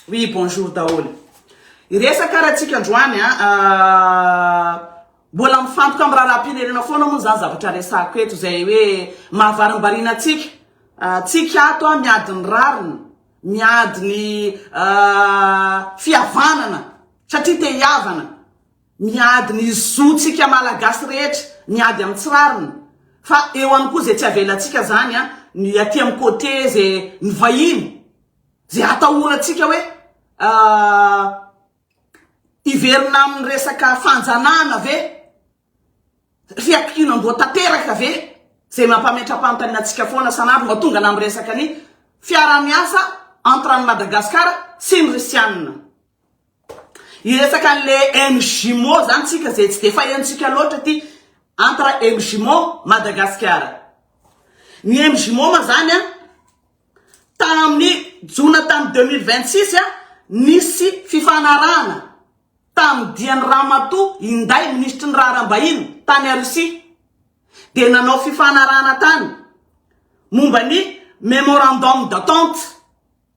Oui bonjour daholo. Hiresaka ary atsika androany a. Mbola mifantoka amin'ny raharaham-pirenena foana moa izany zavatra resahako eto izay hoe mahavarimbariana antsika. Tsika ato a miady ny rariny, miady ny fihavanana satria te hihavana, miady ny zontsika malagasy rehetra, miady amin'ny tsy rariny. Fa eo ihany koa izay tsy avelantsika izany a, ny aty amin'ny côté izay ny vahiny. Izay atahorantsika hoe hiverina amin'ny resaka fanjanahana ve? Fiankinam-boa tanteraka ve? Izay mampametra-panontaniana antsika foana san'andro mba tongana amin'ny resaka ny fiaraha-miasa entre an'i Madagasikara sy ny Risianina. Hiresaka anle MJMO zany tsika zay tsy de fahenontsika loatra aty entre MJMO Madagasikara. Ny MJMO ma zany a tamin'ny jona tamin'ny deux mille vingt six a nisy fifanarahana tamin'ny dian'ny ramatoa Inday minisitry ny raharaham-bahiny tany a Russie dia nanao fifanarahana tany momba ny memorandum d'attente.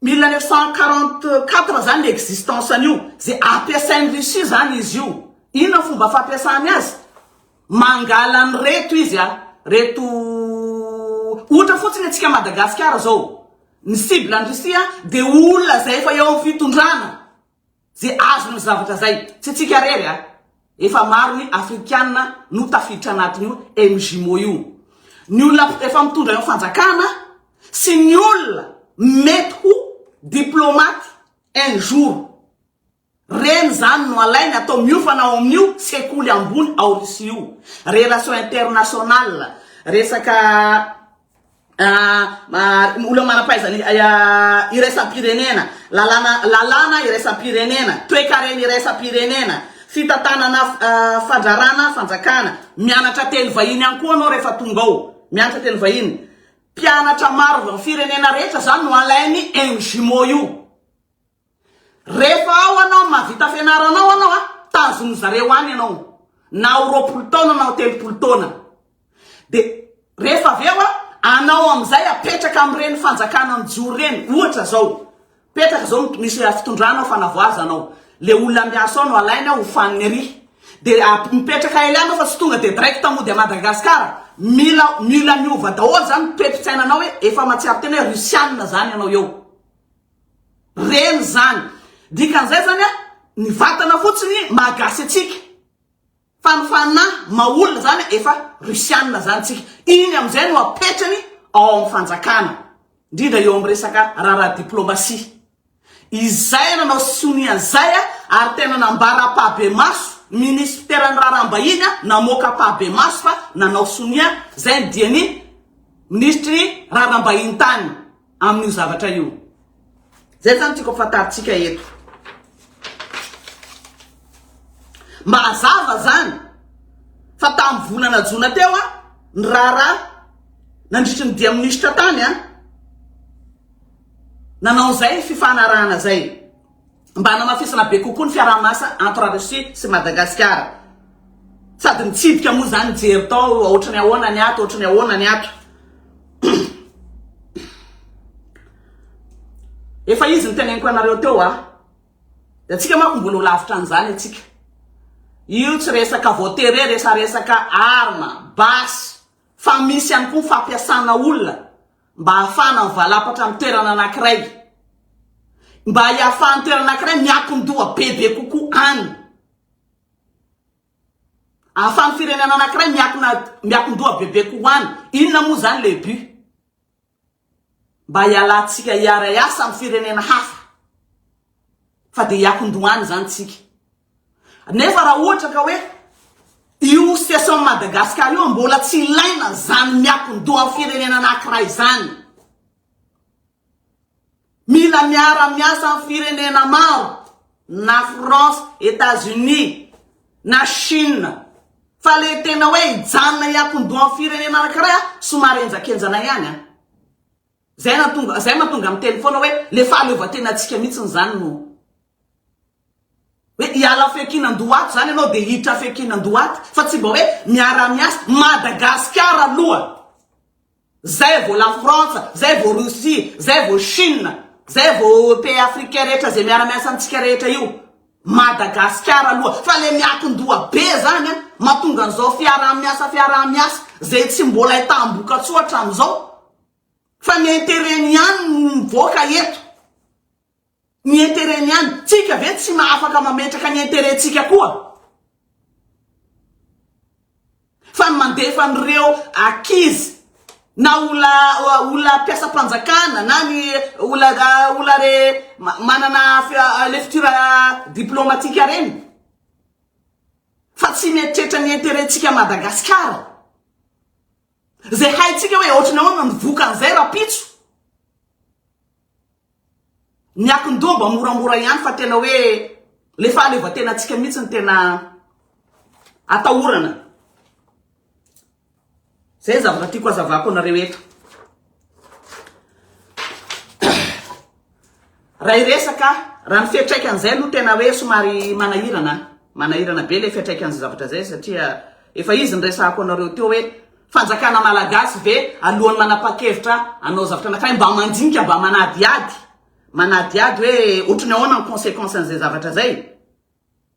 Mille neuf cent quarante quatre zany ny existence an'io, ze ampiasain'i Russie zany izy io, inona ny fomba fampiasany azy? mangala an'ireto izy a, reto ohatra fotsiny antsika Madagasikara zao, ny cible an'i Russie a de olona zay efa eo amin'ny fitondrana, ze azony zavatra zay tsy tsika rery a efa maro ny afrikana no tafiditra anatin'io mgmo io ny olona efa mitondra eo fanjakana sy ny olona mety ho diplomaty un jour reny zany no alainy atao miofana ao amin'io sekoly ambony ao Russie io relation internationale resaka olona manam-pahaizana iraisam-pirenena, lalàna lalàna iraisam-pirenena, toekarena iraisam-pirenena, fitantanana fandrarana fanjakana. Mianatra teny vahiny ihany koa anao rehefa tonga ao, mianatra teny vahiny. Mpianatra maro avy amin'ny firenena rehetra izany no alain'ny MJUMO io. Rehefa ao anao mavita fianaranao anao a, tazonin'ny zareo any ianao, na ho roapolo taona na ho telopolo taona. Dia rehefa avy eo a, anao amin'izay apetraka amin'ireny fanjakana mijoro ireny, ohatra izao, petraka izao misy fitondrana ao Fanavoaza anao, le olona miasa ao no alainy ao ho faniny ery, dia a- mipetraka ela anao fa tsy tonga dia direct mody à Madagascar, mila mila miova daholo izany toe-pitsainanao hoe efa mahatsiaro tena hoe Russiana izany ianao eo. Reny zany. Dikan'izay zany a, ny vatana fotsiny maha gasy antsika. Fa ny fanahy maha olona zany efa rusiana zany tsika. Iny amin'izay no apetrany ao amin'ny fanjakana. Indrindra eo amin'ny resaka raharaha diplomasia. Izay nanao sonia an'izay a, ary tena nambara ampahibemaso, minisiteran'ny raharaham-bahiny a, namoaka ampahibemaso fa nanao sonia, izay ny dian'ny minisitry ny raharaham-bahiny tany. amin'io zavatra io. Zay zany tiako afantarintsika eto. Mba hazava zany fa tamin'ny volana jona teo a ny raharaha nandritry ny dia minisitra tany a nanao zay fifanarahana zay. mba hanamafisana be kokoa ny fiaraha-miasa entre la Russie sy Madagasikara. Sady nitsipika moa izany nijery tao hoe ohatry ny ahoana ny ato, ohatry ny ahoana ny ato. Efa izy niteneniko anareo teo ah. Dia antsika manko mbola ho lavitra an'izany antsika. Io tsy resaka voatery resaresaka arma, basy, fa misy ihany koa fampiasana olona mba hahafahana mivalapatra amin'ny toerana anankiray, mba hiafahan'ny toerana anankiray miankin-doha bebe kokoa any, ahafahan'ny firenena anankiray miankina miankin-doha bebe kokoa any, inona moa izany le but? Mba hialantsika hiara-hiasa amin'ny firenena hafa fa dia hiankin-doha any izany tsika. Nefa raha ohatra ka hoe io situation Madagascar io mbola tsy ilaina zany miakon-doha firenena anakiray zany. Mila miara-miasa amin'ny firenena maro na France, Etats-Unis, na Chine. Fa le tena hoe hijanona hiakon-doha amin'ny firenena anakiray somary henjakenjana ihany an. Zay nahatonga zay mahatonga miteny foana hoe le fahaleovantenantsika mihitsiny zany no hoe hiala fiankinan-dohato zany ianao dia hiditra fiankinan-dohato fa tsy mba hoe miara-miasa Madagasikara aloha zay vao la France zay vao Russie zay vao Chine zay vao pays africain rehetra zay miara-miasa amintsika rehetra io Madagasikara aloha fa le miakin-doha be zany a mahatonga an'izao fiaraha-miasa fiaraha-miasa zay tsy mbola hitam-bokatsoa hatramin'izao Fa ny interet-ny ihany no mivoaka eto. Ny interet-ny ihany. Tsika ve tsy ma afaka mametraka ny interet-tsika koa? Fa ny mandefa an'ireo akizy na ola olona mpiasam-panjakana na ny ola olona re manana lefitura diplomatika reny. Fa tsy mieritreritra ny interet-tsika Madagasikara. Zay haintsika hoe ohatrany ahoana ny vokan'izay rapitso. Ny akin-doha mba moramora ihany fa tena hoe le fahaleovantenantsika mihitsy ny tena atahorana. Zay ny zavatra tiako hazavako anareo eto. Raha hiresaka, raha ny fiantraikan'izay no tena hoe somary manahirana, manahirana be ilay fiantraikan'izay zavatra izay satria efa izy niresahako anareo teo hoe fanjakana malagasy ve alohan'ny manapa-kevitra hanao zavatra anankiray mba mandinika, mba manadihady, manadihady hoe ohatry ny ahoana ny conséquence an'izay zavatra izay.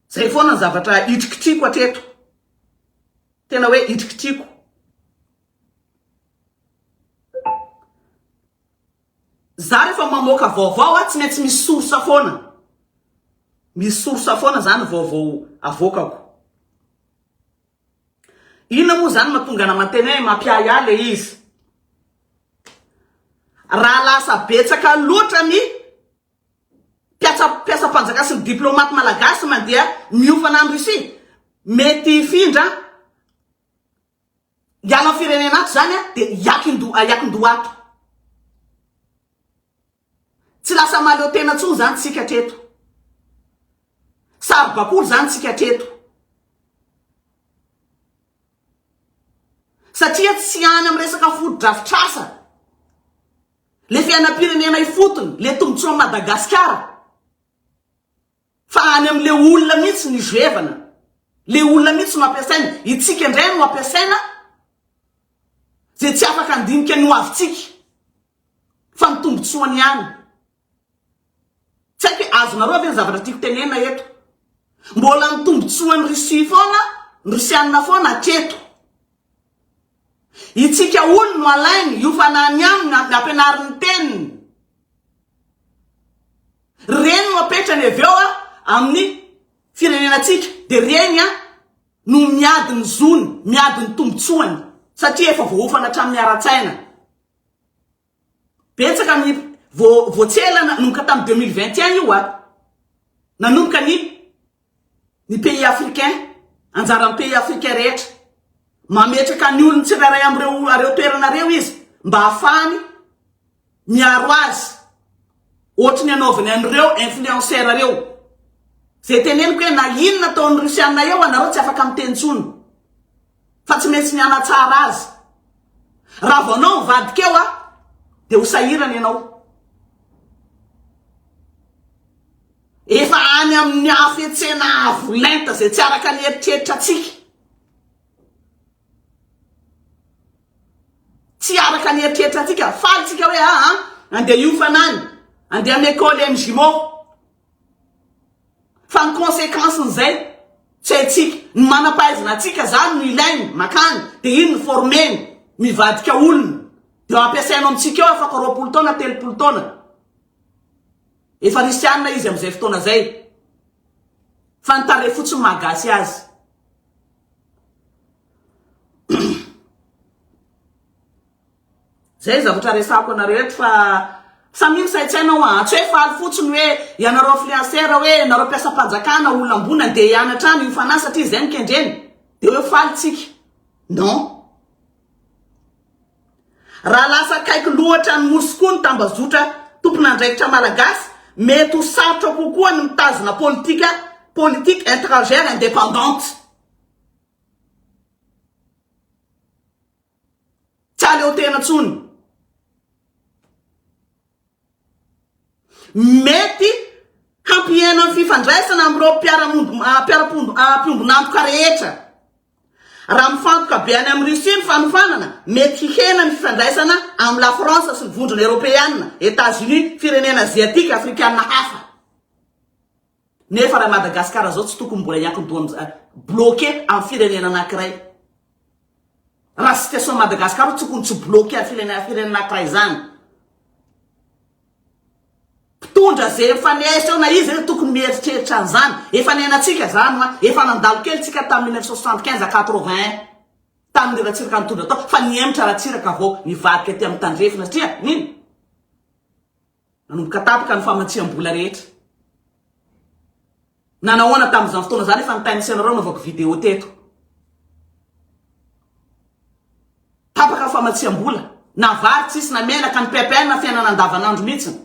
Izay foana ny zavatra hitrikitriko hatreto. Tena hoe hitrikitriko. Za refa mamoaka vaovao a tsy maintsy misy source foana. Misy source foana zany vaovao avoakako. Inona moa zany matonga ana mateny hoe mampiahy ahy le izy. Raha lasa betsaka loatra ny mpiasa mpiasam-panjaka sy ny diplomate malagasy mandeha miofana any Russie mety hifindra Miala am firenena ato zany an de hiakindoha hiakindoha ato. Tsy lasa mahaleo tena tsony zany tsika hatreto. Saro bakoly zany tsika hatreto. Satria tsy any am resaka fotodrafitrasa le fiainam pirenena ifotony le tombotsoan Madagasikara. Fa any amin le olona mihitsy ny zoevana. Le olona mihitsy no ampiasaina. Itsika indray no ampiasaina ze tsy afaka andinika ny ho avintsika. Fa ny tombotsoany ihany. Tsy haiko hoe azonareo ve ny zavatra tiako tenena eto. Mbola ny tombotsoan'i Russie foana, ny Rusiana foana hatreto. Itsika hono no alainy, io fanahy ny aminy no ampianariny ny teniny. Reny no apetrany avy eo amin'ny firenenantsika, dia reny no miady ny zony, miady ny tombotsoany, satria efa voaofana hatramin'ny ara-tsaina. Betsaka ny vo voatsela nanomboka tamin'ny deux mille vingt et un io a! Nanomboka ny ny pays africains, anjaran'ny pays africains rehetra. Mametraka ny olony tsirairay amin'ireo ireo toerana ireo izy mba hahafahany miaro azy. Ohatry ny anaovany an'ireo influenceurs ireo. Zay teneniko hoe na inona ataon'ny Russiana eo anareo tsy afaka miteny intsony. fa tsy maintsy mianatsara azy. Raha vao anao mivadika eo a, dia ho sahirana ianao. Efa any amin'ny hafetsena avo lenta izay tsy araka ny eritreritra antsika. Tsy araka ny eritreritra antsika, faly tsika hoe aa, andeha hiofana any, andeha hanekôly any Gimo, Fa ny consequence n'izay tsy haintsika. Ny manam-pahaizana antsika zany no ilainy, makany dia iny no former-ny, mivadika olona dia ampiasainao amintsika eo afaka roapolo taona, telopolo taona. Efa risianina izy amin'izay fotoana izay. Fa ny tarehy fotsiny mahagasy azy. Zay zavatra resahako anareo eto fa samia misaintsaina hoa an! Tsy hoe faly fotsiny hoe ianareo influenceur hoe ianareo mpiasam-panjakana olona ambony andeha hianatra any UFANA satria izay no kendreny dia hoe faly tsika. Non. Raha lasa akaiky loatra ny Nosy koa ny tambazotra tompon'andraikitra malagasy, mety ho sarotra kokoa ny mitazona politika, politique etrangère indépendante. Tsy aleo tena tsony. Mety hampihena ny fifandraisana amin'ireo mpiara-pombon'antoka rehetra. Raha mifantoka be any amin'i Russie ny fanofanana, mety hihena ny fifandraisana amin'i Lafrantsa sy ny Vondrona Eoropeana, Etats-Unis, firenena Aziatika, Afrikana hafa. Nefa raha Madagascar zao tsy tokony mbola hiankin-doha am bloqué am firenena anakiray. Raha situation ny Madagascar tsy tokony tsy bloqué am firenena firenena anakiray zany. Mpitondra ze mifanesy eo na iza eo tokony mieritreritra an'zany. Efa niainatsika zany hoa, efa nandalo kely tsika tam mille neuf cent soixante quinze à quatre vingt un tam ry Ratsiraka nitondra tao fa nihemotra Ratsiraka vao nivadika aty am tandrefana satria nino? Nanomboka tapaka ny famatsiam-bola rehetra. Nanao ahoana tamin'izany fotoana izany efa nitain'ny Senarao navaoko vidéo teto. Tapaka ny famatsiam-bola. Na vary tsisy na menaka ny PPN na fiainana andavanandro mihitsiny.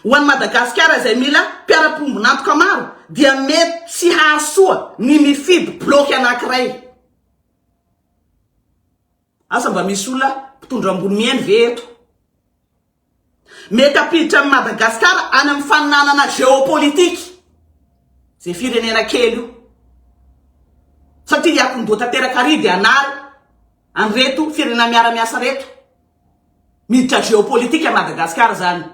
Ho an'i Madagasikara izay mila mpiara-pombon'antoka maro dia mety tsy hahasoa ny mifidy bloc anankiray. Asa mba misy olona mpitondra ambony mihaino ve eto? Mety hampiditra an'i Madagascar any amin'ny faninanana géopolitique izay firenena kely io. Satria hiatomboha tanteraka ary dia hanary an'ireto firenena miara-miasa reto. Miditra géopolitique an'i Madagascar izany.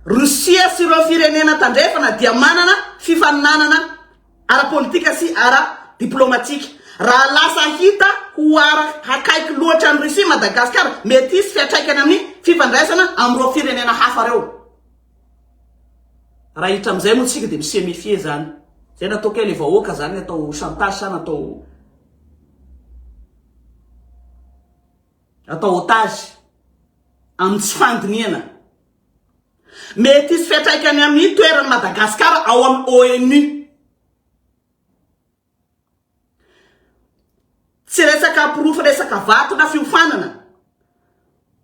Russia sy ireo firenena tandrefana dia manana fifaninanana ara-politika sy ara-diplomatika. Raha lasa hita ho ara-hakaiky loatra an'i Russie i Madagasikara, mety hisy fiantraikany amin'ny fifandraisana amin'ireo firenena hafa ireo. Raha hiditra amin'izay moa isika dia mi se méfier izany. Izay no atao kay ilay vahoaka izany atao chantage sa natao. atao otage amin'ny tsy fandinihana. Mety hisy fiantraikany amin'ny toeran'i Madagasikara ao amin'ny ONU. Tsy resaka porofo resaka vato na fiofanana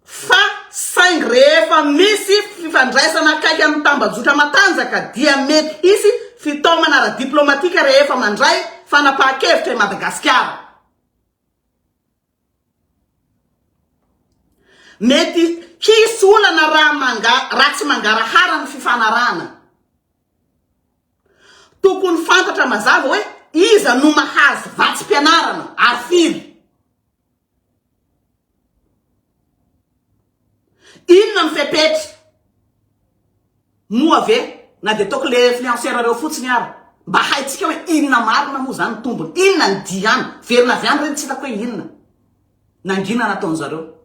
fa saingy rehefa misy fifandraisana akaiky amin'ny tambajotra matanjaka dia mety hisy fitaomana ara-diplaomatika rehefa mandray fanapahan-kevitra i Madagasikara. Mety hisy olana raha manga raha tsy mangarahara ny fifanarahana. Tokony fantatra mazava hoe iza no mahazo vatsim-pianarana ary firy. Inona ny fepetra? Moa ve na dia toaka le influenceur reo fotsiny ara? Mba haintsika hoe inona marina moa zany ny tombony? Inona ny diany? Verina avy any reny tsy hitako hoe inona? Nangina nataon'zareo?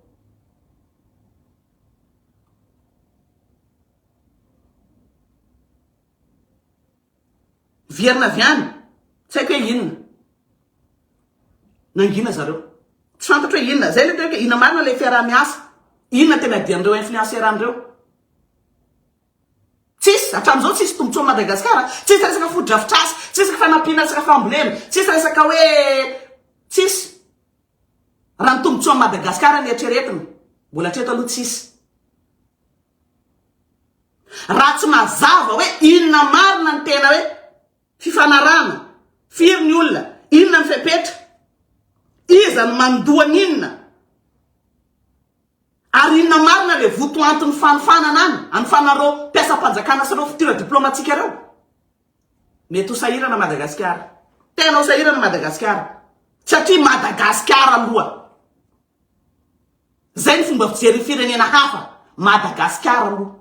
Vierna avy any, tsy haiko hoe inona. Nangina zareo. Tsy fantatro hoe inona. Zay le tena hoe inona marina ilay fiaraha-miasa. Inona tena dian'ireo influenceurs an'ireo. Tsisy, hatramin'izao tsisy tombontsoa amin'i Madagasikara. Tsisy resaka fotodrafitrasa, tsy resaka fanampiana resaka fambolena, tsisy resaka hoe tsisy. Raha ny tombontsoa amin'i Madagasikara no eritreretina, mbola hatreto aloha tsisy. Raha tsy mazava hoe inona marina ny tena hoe fifanarahana, firy ny olona, inona ny fepetra, iza no mandoa ny inona, ary inona marina ilay votoanton'ny fanofanana any amin'ny fanan'ireo mpiasam-panjakana sy ireo fitora diplaomatika ireo? Mety ho sahirana Madagasikara. Tena ho sahirana Madagasikara. Satria Madagasikara aloha Zay ny fomba fijery firenena hafa, Madagascar aloha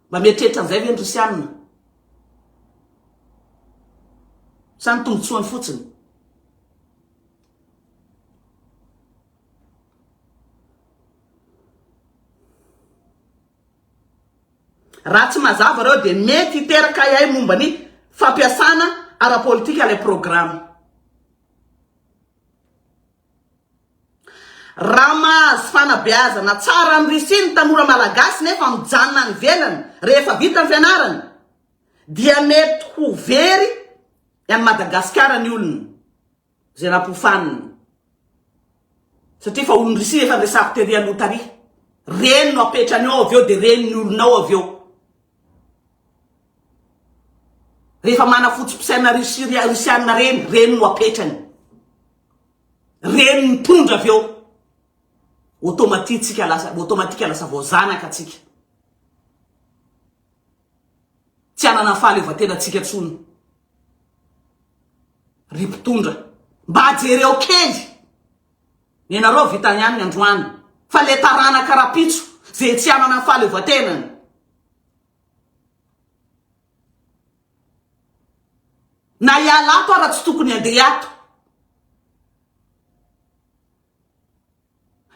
mba mieritreritra an'izay ve ny Rusiana? Sa ny tombotsoany fotsiny? Raha tsy mazava reo dia mety hiteraka ahiahy momba ny fampiasana ara-politika ilay programa. Raha mahazo fanabeazana tsara any Russie ny tanora malagasy nefa mijanona any ivelany rehefa vita ny fianarany dia mety ho very any Madagasikara ny olona izay nampofanina satria fa olon'i Russie efa resako tery aloha tary. Reny no apetrany ao avy eo dia reny ny olona ao avy eo. Rehefa manafotsy mpisaina Russie Russiana reny, reny no apetrany. Reny mitondra avy eo. Automatique-tsika lasa, automatique lasa vao zanaka tsika. Tsy anana fahaleovantena tsika tsony. Ry mpitondra, mba jereo kely. Ny anareo vita ihany ny androany. Fa le taranaka rapitso, ze tsy anana fahaleovantena. Na hiala ato ara tsy tokony handeha ato.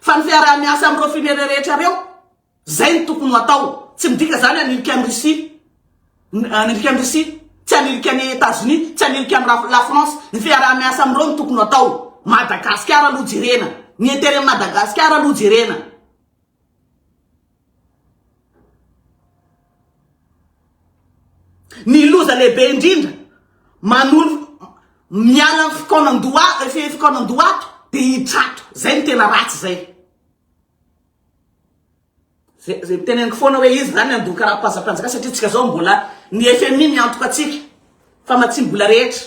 Fa ny fiaraha-miasa amin'ireo firenena rehetra ireo, izay no tokony ho atao. Tsy midika izany hanilika an'i Russie, hanilika an'i Russie, tsy hanilika an'i Etazonia, tsy hanilika an'i Raf- la France. Ny fiaraha-miasa amin'ireo no tokony ho atao. Madagasikara aloha jerena. Ny intérêt Madagasikara aloha jerena. Ny loza lehibe indrindra, manolo miala ny fikaonan-doha fe fikaonan-doha ato dia hitrato. Izay no tena ratsy izay. Ze ze miteneniko foana hoe iza izany handon karapanjampanjaka satria tsika zao mbola ny FMI miantoka antsika fa matsiam-bola rehetra.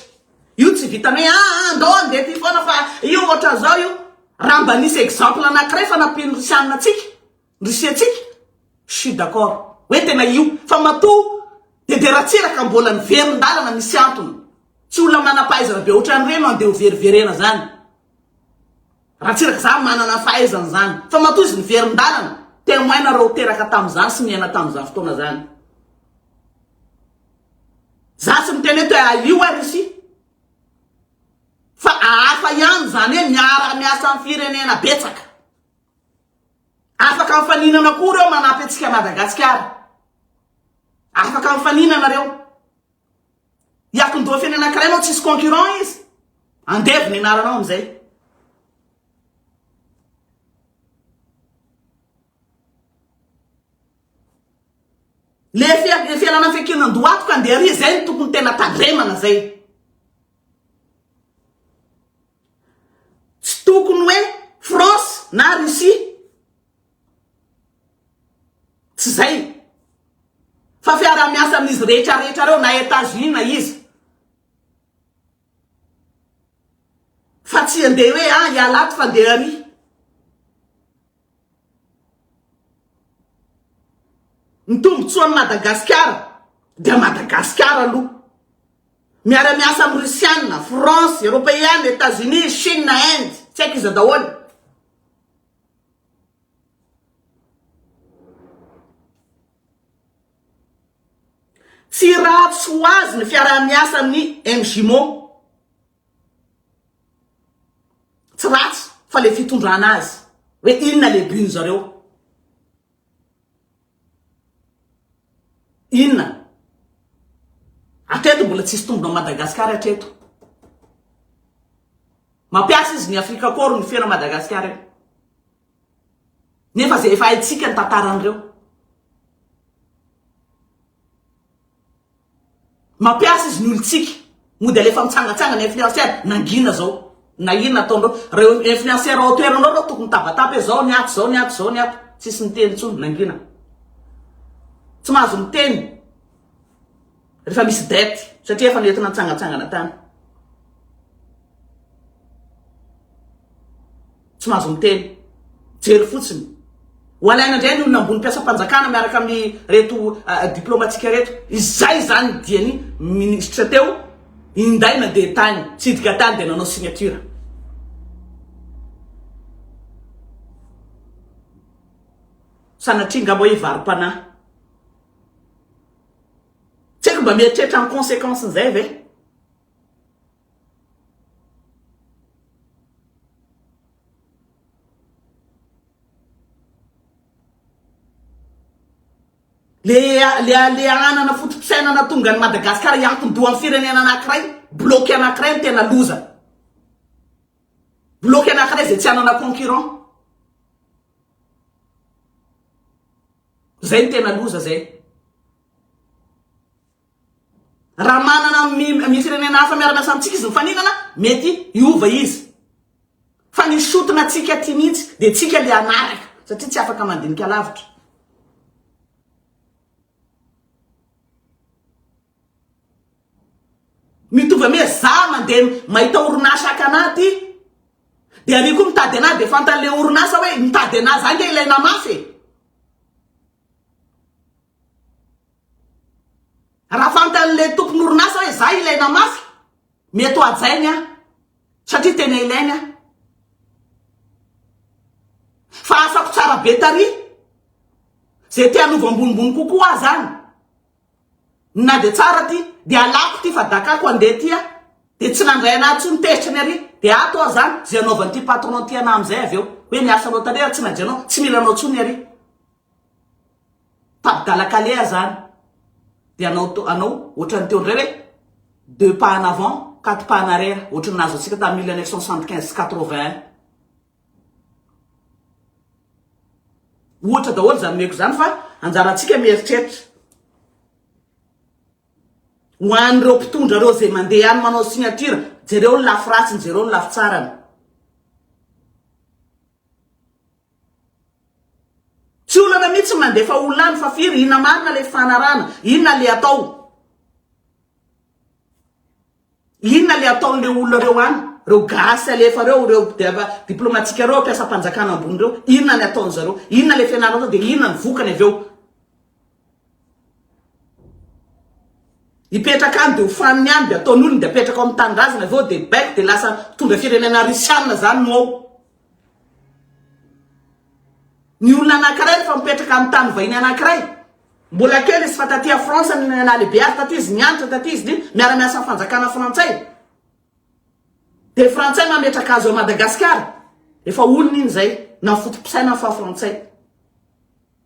Io tsy vitan'ny hoe aa andao handeha aty foana fa io ohatran'izao io. Raha mba nisy exemple anankiray fa nampian'ny Russiana antsika, Russie antsika, je suis d'accord hoe tena io fa matoa dia dia ratsiraka mbola niverin-dalana misy antony. Tsy olona manam-pahaizana be ohatran'ireny no andeha hoveriverena izany. Ratsiraka izany manana ny fahaizany izany fa matoa izy niverin-dalana, témoin nareo teraka tamin'izany sy niaina tamin'izany fotoana izany. Za tsy miteny eto hoe alio ary isia fa ahafa ihany zany hoe miara miasa am firenena betsaka afaka mifaninana koa reo manampy atsika Madagascar afaka mifaninana reo hiakindoha firenena ankiray nao tsisy concurrent izy andevo ny anaranao amizay Le fialana fekena ndoato ka ndeha ary zay no tokony tena tandremana zay. Tsy tokony hoe France na Russie. Tsy zay. Fa fiarahamiasa amin'izy rehetra rehetra reo na Etats Unis na iza. Fa tsy andeha hoe ah ialahy ato fa ndeha ary. Ny tombotsoan'i Madagasikara dia Madagasikara aloha. Miara-miasa amin'ny Russiana, France, Eropeana, Etazonia, Shina, Inde, tsy haiko iza daholo. Tsy ratsy ho azy ny fiaraha-miasa amin'ny MJMO. Tsy ratsy fa le fitondrana azy hoe inona le but nzareo. Inona? Atreto mbola tsisy tombony Madagascar atreto. Mampiasa izy ny Afrika Corps ny fena Madagascar io. Nefa ze efa haitsika ny tantaran'ireo. Mampiasa izy ny olontsika. Mody alefa mitsangatsangana influenceur. Nangina zao. Na inona ataonareo. Reo influenceur ao toeranareo reo tokony mitabataba hoe zao ny ato zao ny ato zao ny ato. Tsisy miteny intsony. Nangina. Tsy mahazo miteny. Refa misy dette. Satria efa nentina nitsangatsangana tany. tsy mahazo miteny. Jery fotsiny. Ho alaina indray ny olona ambony mpiasam-panjakana miaraka amin'ny reto diplaomatika reto. Izay izany ny diany minisitra teo, inday nandeha tany, tsidika tany dia nanao signature. Sanatria ngamba hoe hivarom-panahy. Tsy haiko mba mieritreritra ny conséquence-n'izay ve? Ilay halehanana foto-pisainana hahatonga an'i Madagasikara hiankin-doha amin'ny firenena anankiray, bloc anankiray no tena loza. Bloc anankiray izay tsy hanana concurrent. Izay no tena loza izay. Raha manana amin'ny firenena hafa miara-miasa amintsika izy mifaninana, mety hiova izy. Fa ny sotona antsika aty mihitsy dia tsika ilay hanaraka, satria tsy afaka mandinika lavitra. Mitovy amy hoe za mandeha mahita orinasa haka anà aty, dia ary koa mitady anà, dia fantan'ilay orinasa hoe nitady anà za ange ilay namafy e! Raha fantan'ilay tompon'orinasa hoe izaho ilaina mafy, mety ho hajainy aho, satria tena ilainy aho. Fa asako tsara be taria, izay te hanova ambonimbony kokoa aho izany, na dia tsara ity, dia halako ity fa dakako handeha ity aho, dia tsy nandray an'ahy intsony tezitra ny aria, dia ato aho izany, izay hanaovan'ity patron ity an'ahy amin'izay avy eo, hoe miasa loatra re raha tsy najainao, tsy mila anao intsony ny aria. Tabidala kaleha zany de anao anao ohatran'ny teo ndray hoe deux pas en avant quatre pas en arrière ohatran'ny nahazo antsika tamin'ny mille neuf cent soixante quinze sy quatre vingt un ohatra daholo izany omeko izany fa anjarantsika mieritreritra ho an'ireo mpitondra ireo izay mandeha any manao signature jereo ny lafy ratsiny jereo ny lafy tsarany Tsy olana mitsy ny mandefa olona any fa firy inona marina le fifanarahana inona le atao inona le ataon le olona reo any reo gasy alefa reo reo diplomatika reo mpiasam-panjakana ambony reo inona ny ataon zareo inona le fianarana atao de inona ny vokany avy eo Hipetraka any dia ho faniny any dia ataony olony dia apetraka ao amin'ny tanindrazana avy eo dia baiko dia lasa mpitondra firenena risianina zany no ao. Ny olona anankiray rehefa mipetraka amin'ny tany vahiny anankiray mbola kely izy fa taty à France ny nahalehibe azy taty izy nianatra taty izy dia miara miasa amin'ny fanjakana frantsay. Dia frantsay mametraka azy ao Madagasikara efa olony iny izay na foto-pisainany fa frantsay.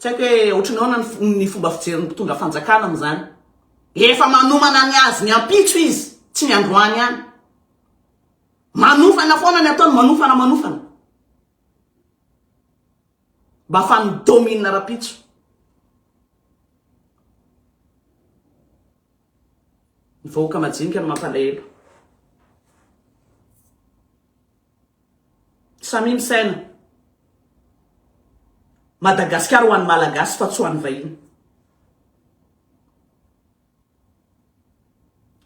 Tsy haiko hoe ohatran'ny ahoana ny fomba fijerin'ny mpitondra fanjakana amin'izany. Efa manomana ny azy ny ampitso izy, tsy ny androany ihany. Manofana foana ny ataony, manofana, manofana. Mba afahany mi-domine rahampitso. Ny vahoaka majinika no mampalahelo. Samia misaina. Madagasikara ho an'ny Malagasy fa tsy ho an'ny vahiny.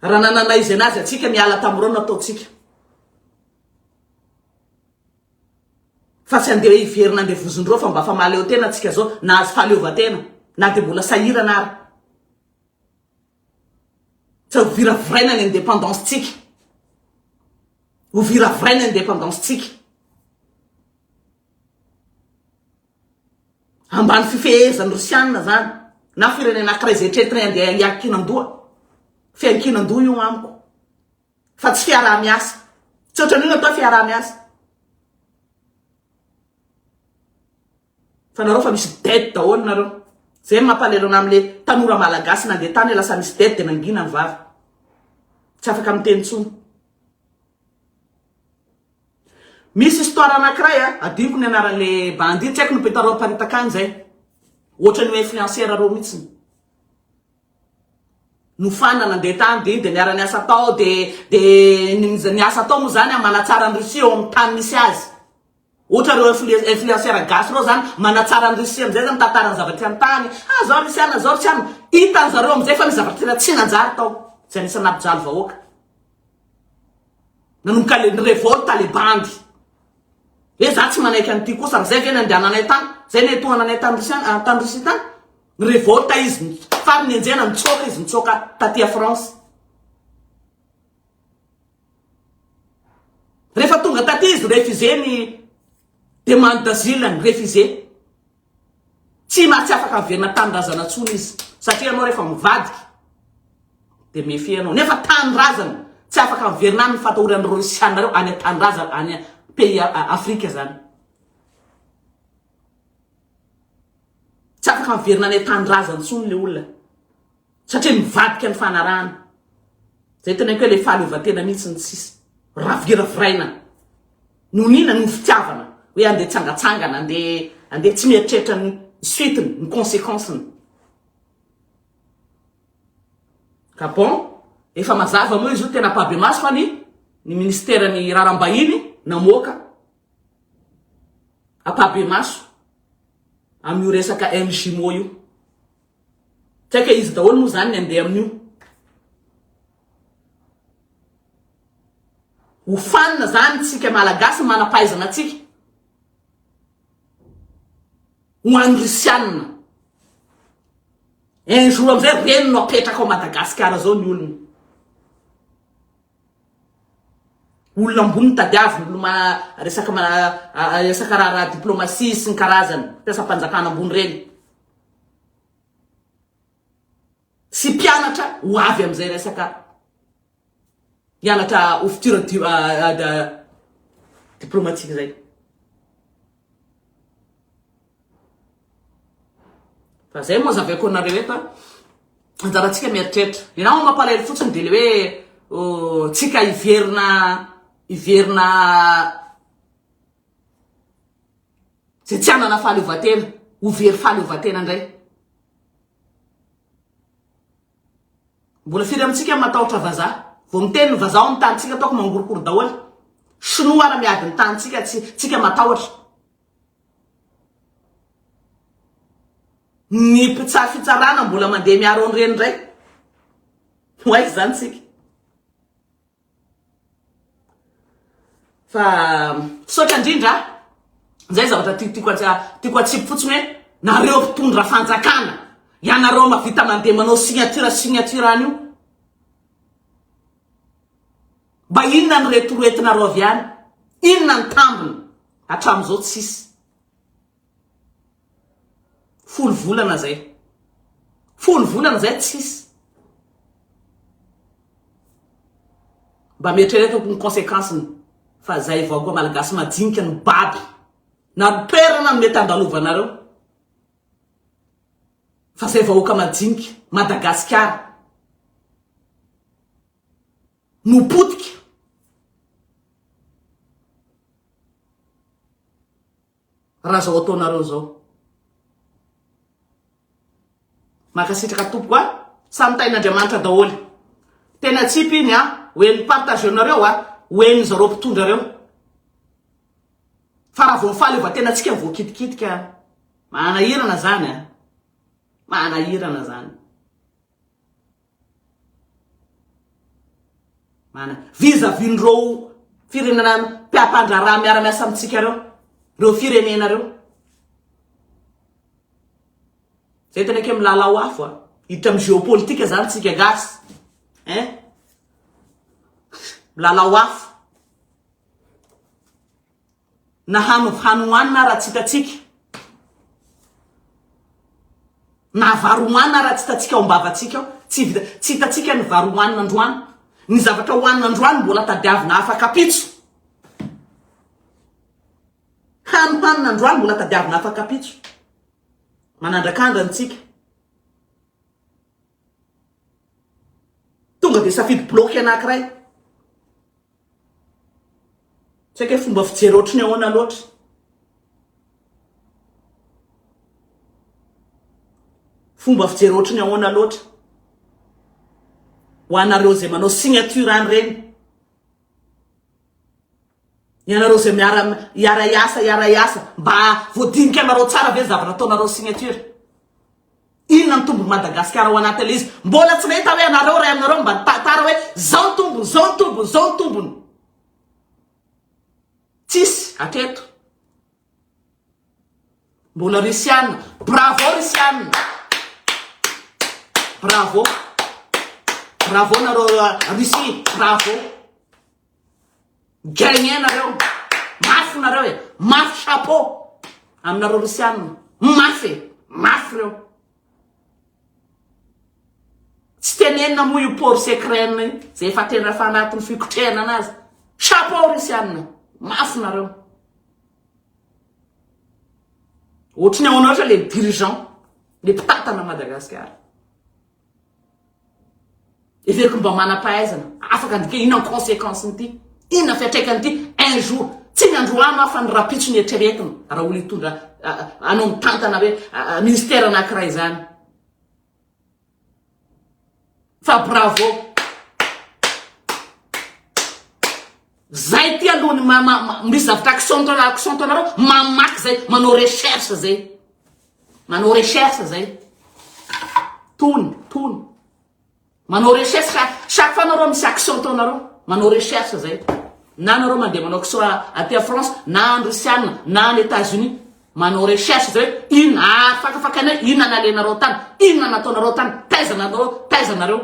Raha nanana izay nazy antsika miala tamin'ireo nataontsika. Fa tsy andeha hiverina andeha vozon'ireo fa mba fa mahaleo tena antsika zao nahazo fahaleovantena na dia mbola sahirana ary. Fa ho viraviraina ny indépendance tsika. Ho viraviraina ny indépendance tsika. Ambany fifehezan'ny Rosiana zany na firenena ankiray zay tretiny andeha hiankinan-doha. Fiankinan-doha io amiko. Fa tsy fiaraha-miasa. Tsy ohatran'io natao fiaraha-miasa. Fa nareo fa misy dette daholo nareo. Zay no mampalelo anah amle tanora malagasy nandeha tany lasa misy dette de nangina ny vava. Tsy afaka miteny tsony. Misy histoire anakiray a, adinoko ny anaranle bandit, tsy haiko ny mpitarao haparitaka any zay. Ohatrany hoe influenceur reo mitsiny. No fan nandeha tany de iny de niara niasa tao de de ny asa atao moa zany a manatsara ny Russie ao am tany misy azy. Ohatra reo influenceurs gasy reo zany manatsara an'i Russie amizay zany mitantara ny zava-tsy an-tany, ah zao Russiana zao Russiana, hitan'ny zareo amizay fa nisy zavatra tena tsy nanjary tao zay nisy nampijaly vahoaka nanomboka le ni-revolte le bandy hoe za tsy manaiky an'ity kosa amizay ve nandehananay tany, zay nihetohananay tany Russiana tany Russie tany, ni-revolte izy faran'ny enjehana nitsoaka izy nitsoaka taty a France. Rehefa tonga taty izy refusé ny demande d'asile-ny, refusé. Tsy ma- tsy afaka averina tanindrazana intsony izy. Satria ianao rehefa mivadika dia méfier ianao. Nefa tanindrazana, tsy afaka averina any ny fatahoran'ny Rosianareo any an-tanindrazana, any a- pays a- a- Afrika izany. Tsy afaka averina any an-tanindrazana intsony ilay olona. satria nivadika ny fanarahana. Zay teneniko hoe le fahaleovantena mihitsy ny tsisy raviraviraina nonina noho fitiavana hoe andeha tsangatsangana andeha andeha tsy mieritreritra ny suite-ny ny conséquence-ny. Ka bon, efa mazava moa izy io tena ampahibemaso fa ny ny ministeran'ny raharaham-bahiny namoaka ampahibemaso amin'io resaka MJMO io. Saika izy daholo moa izany ny andeha amin'io. Ho fanina izany tsika Malagasy ny manam-pahaizana antsika. Ho an'ny Rusiana. Un jour amin'izay reny no apetraka ao Madagasikara izao ny olony. Olona ambony tadiaviny, olona resaka resaka raharaha diplomasia sy ny karazany, mpiasam-panjakana ambony reny. Tsy mpianatra ho avy amin'izay resaka hianatra ho futur diplomatique izay. Fa izay moa azaveko anareo eto a. Anjarantsika mieritreritra. Ny nama mampalahelo fotsiny dia ilay hoe tsika hiverina hiverina Zay tsy hanana fahaleovantena, ho very fahaleovantena ndray. Mbola firy amintsika no matahotra vazaha? Vao miteny ny vazaha ao amin'ny tanintsika ataoko mangorokoro daholo. Shinoa ara miady ny tanintsika, tsy tsika matahotra. Ny mpitsara fitsarana mbola mandeha miaro an'ireny ndray. Ho aiza izany tsika? Fa misaotra indrindra a! Izay zavatra ti- tiako atsi- tiako atsipy fotsiny hoe nareo mpitondra fanjakana, ianareo mahavita mandeha manao signature signature any io, mba inona ny retoretonareo avy any? Inona ny tambiny? Hatramin'izao tsisy. Folo volana zay. Folo volana zay tsisy. Mba mieritrereta ny conséquence-ny fa zay vahoaka malagasy majinika no baby. Na ny toerana no mety andalovanareo fa zay vahoaka majinika Madagasikara no potika. Raha zao ataonareo zao. Mankasitraka tompoko a. Samy tahin'Andriamanitra daholo. Tena tsipy iny a. Ho en'ny partage nareo a. Ho en'ny zareo mpitondra reo. Fa raha vao ny fahaleovantenantsika voakitikitika. Manahirana zany a. Manahirana zany. Mana vis à vis n'ireo firenena mpiampandraharaha miara-miasa amintsika ireo, ireo firenena ireo. Zay tena ke milalao afo a. Hiditra amin'ny géopolitique zany tsika gasy. Hein? Milalao afo. na hano hany hohanina ara tsitatsika, na vary hohanina ara tsitatsika ao am-bavantsika ao, tsy vita tsy hitatsika ny vary hohanina androany, ny zavatra hohanina androany mbola tadiavina afakapitso, hany hohanina androany mbola tadiavina afakapitso, manandrakandra antsika. Tonga dia safidy bloque anakiray. Tsy haiko hoe fomba fijery ohatry ny ahoana loatra. Fomba fijery ohatry ny ahoana loatra. Ho anareo izay manao signature an'ireny. Ianareo izay miara hiara hiasa hiara hiasa mba voadinika anareo tsara ve ny zavatra ataonareo signature. Inona ny tombony Madagasikara ao anaty an'izy? Mbola tsy nahita hoe anareo ray aminareo mba nitantara hoe zao ny tombony, zao ny tombony, zao ny tombony. Tsisy aketo. Mbola Rusiana. Bravo Rusiana. Bravo. Bravo nareo Russie. Bravo. Gagner nareo. Mafy nareo e. Mafy chapeau. Aminareo Rosianina. Mafy e. Mafy reo. Tsy tenenina moa io port secret io. Zay efa tena efa anatin'ny fikotrehana anazy. Chapeau Rosianina. Mafy nareo. Ohatry ny ao anareo le dirigeant. Le mpitantana Madagasikara. Heveriko mba manam-pahaizana, afaka ny dika, inona ny conséquence-n'ity? Inona fiantraikan'ity? Un jour, tsy ny androany aho fa ny rahampitso ny eritreretiny, raha olona hitondra, hanao mitantana hoe ministère anankiray izany. Fa bravo! Zay ity aloha ny ma ma misy zavatra accent anareo accent anareo mamaky zay manao recherche zay manao recherche zay tony tony manao recherche chaque chaque fois anareo misy accent anareo manao recherche zay na anareo mandeha manao accent aty à France na any Rusiana na any Etats Unis manao recherche zay inona afakafakanay inona nalenareo tany inona nataonareo tany taiza nanareo taiza nareo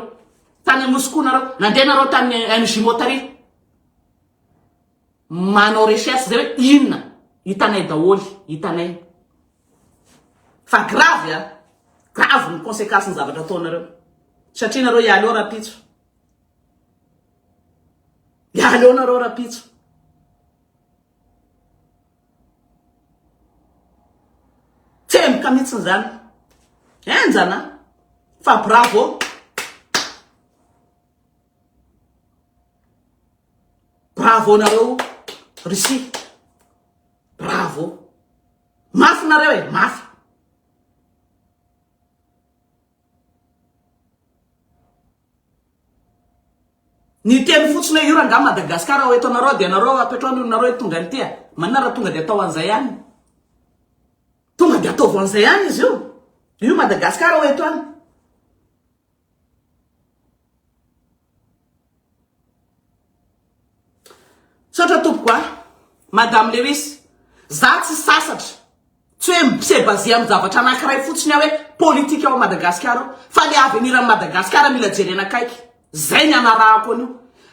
Tany Anosy koa nareo. Nandeha nareo tany MJ Motari. Manao recherche zay hoe inona. Hitanay daholy. Hitanay. Fa grave a. Grave ny conséquence ny zavatra ataonareo. Satria nareo hialy eo rapitso. Hialy eo nareo rapitso. Tsemboka mihitsiny zany. Henjana fa bravo. Bravo nareo Russie. Bravo. Mafy nareo e, mafy. Ny teny fotsiny hoe io rangah Madagascar ao eto anareo dia anareo apetrao ny olonareo hitondra an'ity a! Manina raha tonga dia atao an'izay any. Tonga dia ataovy an'izay any izy io. Io Madagascar ao eto any. Misaotra tompoko a! Madame Lewis, za tsy sasatra, tsy hoe mi-se baser amin'ny zavatra anankiray fotsiny aho hoe politika ao Madagasikara ao, fa le avenir an'i Madagasikara mila jerena akaiky, zay ny anarahako an'io.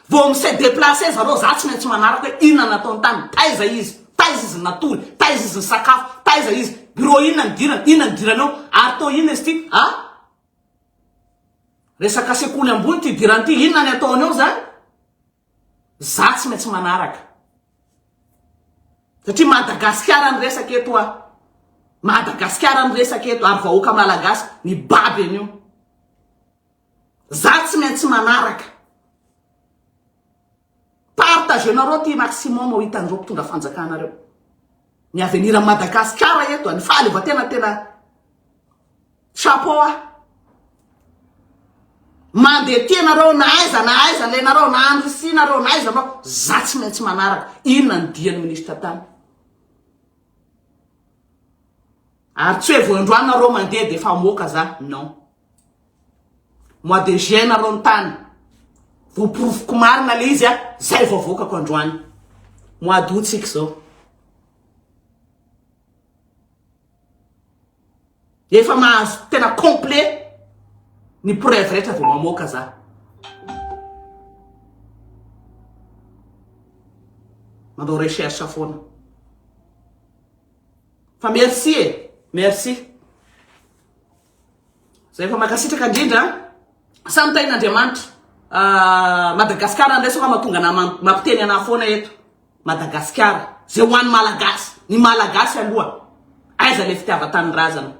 Vao mi-se deplacer zareo, za tsy maintsy manaraka hoe inona nataony tany, taiza izy, taiza izy natory, taiza izy nisakafo, taiza izy, bureau inona nidirany, inona nidirany ao, ary to inona izy ty, a? Resaka sekoly ambony ty hidirany ty, inona ny ataony eo zany? Za tsy maintsy manaraka. Satria Madagasikara ny resaka eto a. Madagasikara ny resaka eto ary vahoaka malagasy ny baby an'io. Za tsy maintsy manaraka. Partagenareo ty maximum ho hitan'ireo mpitondra fanjakana reo. Ny avenir an'i Madagasikara eto, ny fahaleovantena tena chapeau ahy. Mandeha tia nareo na aiza na aiza ilay nareo na any Russie nareo na aiza nareo, za tsy maintsy manaraka. Inona ny dian'ny ministra tany? Ary tsy hoe vao androany nareo mandeha dia efa moka za, non. Mois de juin nareo nitany. Voporofoko marina le izy a, zay vao avoakako androany. Mois d'août tsika zao. Efa mahazo tena complet ny preuve rehetra vao mamoaka za. Manao recherche foana. Fa merci e, merci. Zay fa mankasitraka indrindra samy tain'Andriamanitra ah, Madagasikara indray sao mahatonga anah mampiteny anah foana eto Madagasikara zay ho an'ny malagasy ny malagasy aloha aiza le fitiavan-tanindrazana